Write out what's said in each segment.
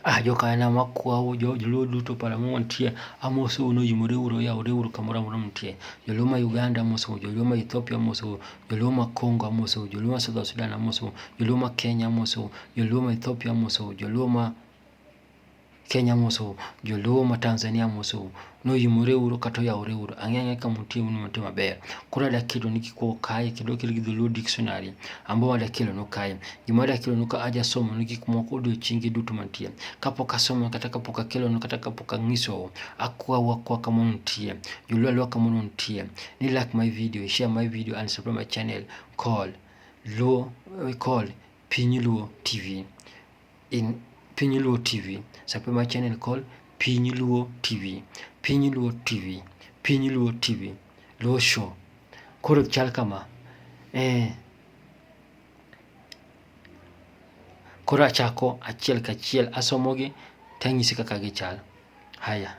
Ah jokanyanam akwau joluo duto pala ma wantie, amosou ni oyimore uru oyawore uru kamoro amora muntie. Joluo ma Uganda amosou, joluo ma Ethiopia amosou, joluo ma Congo amosou, joluo ma South Sudan amosou, joluo ma Kenya amosou, joluo ma Ethiopia amosou, joluo ma Kenya amosou, joluo ma Tanzania amosou. noyimore uru kata oyawore uru ang'e ang'e kama untie un mute maber koro ada kelo ni kik kae kendo okel gi dholuo dictionary ambo ada kelo no kae gima ada kelo no ka aja somo ni gik moko odiochienge duto mantie kapok asomo kata kapok akelo no kata kapok ang'iso akwawu akwa kama untie joluo alwa kama untie ni like my video share my video and subscribe my channel call luo call piny luo tv in Piny Luo TV. Subscribe my channel called Piny Luo TV. Piny Luo TV. Piny Luo TV. Luo Show. Koro chal kama. Eh. Koro achako achiel kachiel asomogi tanyisi kaka gichal. Haya.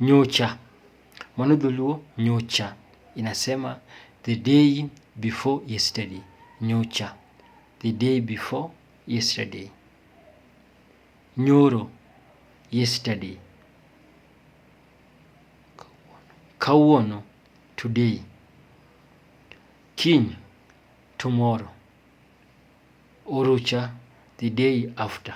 Nyocha. Mano dholuo nyocha inasema the day before yesterday. Nyocha. The day before yesterday. Nyoro. Yesterday. Kawuono. Today. Kiny. Tomorrow. Orucha. The day after.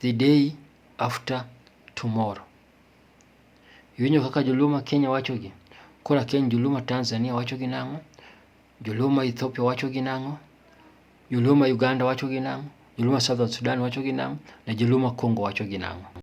the day after tomorrow. Iwinjo kaka joluo ma Kenya wachogi? Kora Kenya joluo ma Tanzania wachogi nang'o? Joluo ma Ethiopia wachogi nang'o? Joluo ma Uganda wachogi nang'o? Joluo ma Southern Sudan wachogi nang'o? Na joluo ma Congo wachogi nang'o?